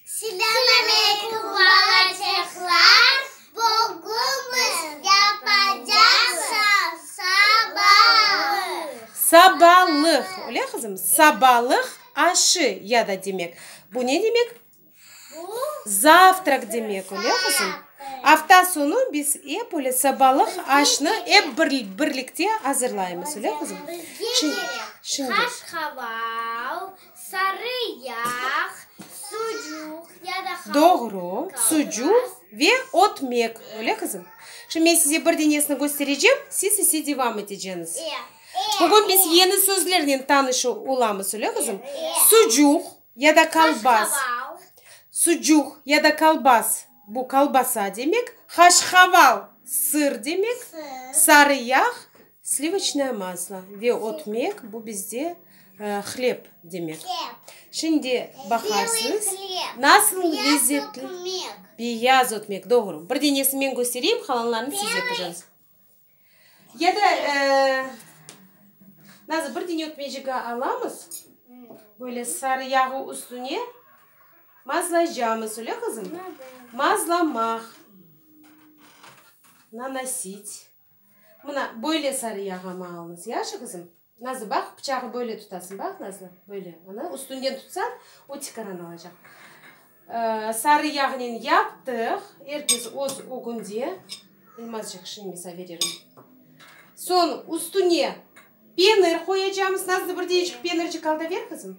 Selam aleykum, bala çehlar! Bugün yapacaqsız sabalıq. Sabalıq, öyle qızım? Sabalıq aşı ya da demek. Bu ne demek? Bu. Zavtrak demek, öyle qızım? Afta soñu biz ep öyle sabalıq aşnı ep birlikte azırlaymız, öyle qızım? Bizge kerek qaşqaval. Sarı yağ, sucuq ya da halva. Doğru, sucuq ve ötmek, öyle qızım? Şimdi men size bir denesini kösterecem, siz ise devam eteceñiz. Bugün biz yeni sözlernen tanışı olamız, öyle qızım? Sucuq ya da kalbas. Sucuq ya da kalbas, bu kalbasa demek. Haşhaval, sır demek. Sarı yağ. Slivoçnoye maslo ve otmek, bu bizde hleb demek. Şimdi baqarsız, nasıl lezzetli. Beyaz otmek, doğru. Bir denesi men köstereyim, qalanlarını siz yapacaqsız. Ya da nazır bir dene otmecik alamız, böyle sarı yağı üstüne mazlaycamız, öyle qızım? Mazlamaq, nanosit. Mına, böyle sarı yağamı alınız, yaşı, qızım? Nazlı, baq, bıçağı böyle tutasıñ, baq, Nazlı, böyle, anı üstünden tutsañ, o tikaran alacaq. Sarı yağnen yaptıq, er kes öz ögünde, İlmazcıq, şimdi misa veririm. Soñ üstüne penir qoyacamız, Nazlı, bir deñişik penircik al da ber, qızım.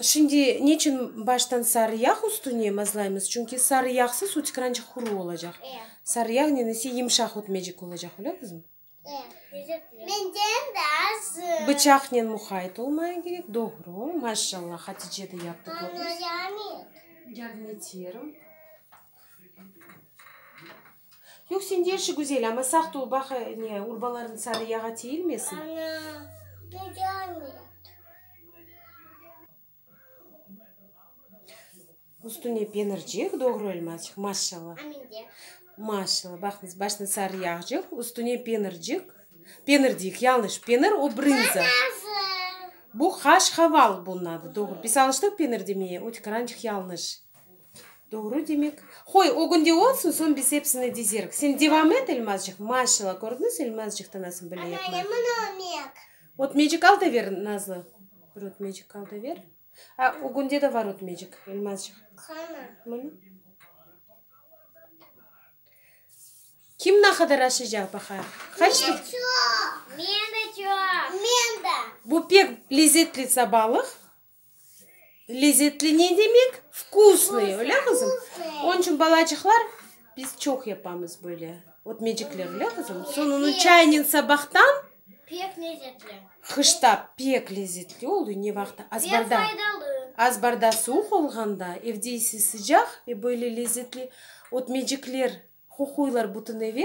Şimdi niçün baştan sarı yağ üstüne mazlaymız? Çünki sarı yağsız uçkırançıq quru olacaq. Sarı yağ nenesi yımşaq ötmecik olacaq, bilesizmi? Bıçaqnen muqayet olmaya kerek, doğru. Maşallah, Hatice de yaptı, kördiñiz. Yoq, sende işi güzel, amma sağ tol, baq, ne, urbaların sarı yağa tiyilmesin. Ana, tiyilmeydi. Üstüne penircek, doğru elmacıq, maşşalla. A mende? Maşşalla, baqıñız, başına sarı yağcıq, üstüne penircik, penir deyik, yañlış, penir, o brınza. Ana, nazı. Bu haş-haval bunun adı, doğru. Biz alıştıq penir demeye, öteki, rancıq, yañlış. Doğru demek. Qoy, o gün de olsun, soñ biz epsini dizerik. Sen devam et Elmazcıq. Maşallah, kördiñiz, Elmazcıqtı nasıl bile yapma. Ana, yaman ötmek. Ötmecik al da ber, Nazlı. Bir ötmecik al da ber. A, o günde de var ötmecik, Elmazcıq. Qana. Mına. Kim ne qadar aşacaq, baqayıq. Qaç Men de çoq. Men de çoq. Men de. Bu pek lezetli sabalıq. Lezetli ne demek? Vkusnıy, öyle qızım? Onıñ içün balacıqlar, biz çoq yapamız böyle ötmecikler, öyle qızım? Soñ onı çaynen sabahtan, qışta pek lezetli oluy, ne vaqıtta? Azbarda, azbarda suvuq olğanda, evde ise sıcaq, ve böyle lezetli ötmecikler, qoquylar bütün eve.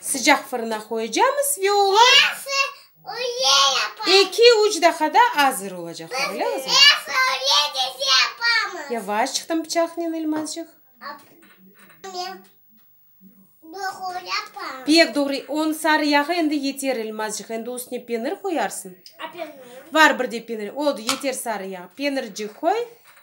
Sıcaq fırına qoyacamız ve olar eki-üç daqada azır olacaqlar, olamızmı? Yavaşçıqtan bıçaqnen, Elmazcıq. Pek doğru, on sarı yağı endi yeter, Elmazcıq, endi üstüne penir qoyarsıñ. Var bir de penir, oldu, yeter sarı yağ. Penircik qoy.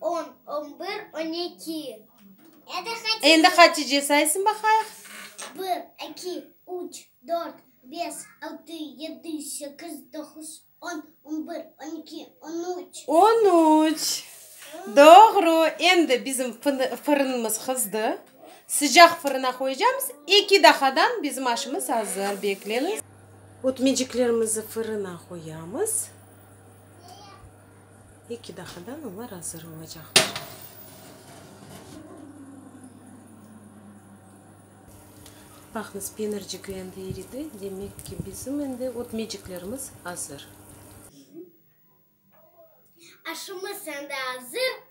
On, on bir, on eki. Endi Hatice saysın baqayıq. Bir, eki, üç, dört, beş, altı, yedi, sekiz, doquz, on, on bir, on eki, on üç. On üç. Doğru. Endi bizim fırınımız qızdı. Sıcaq fırına qoyacamız. Eki daqadan bizim aşımız azır. Bekleniz. Ötmeciklerimizni fırına qoyamız. Eki daqadan olar azır olacaqlar. Baqıñız, penircik endi iridi, demek ki, bizim endi ötmeciklerimiz azır. Aşımız endi azır.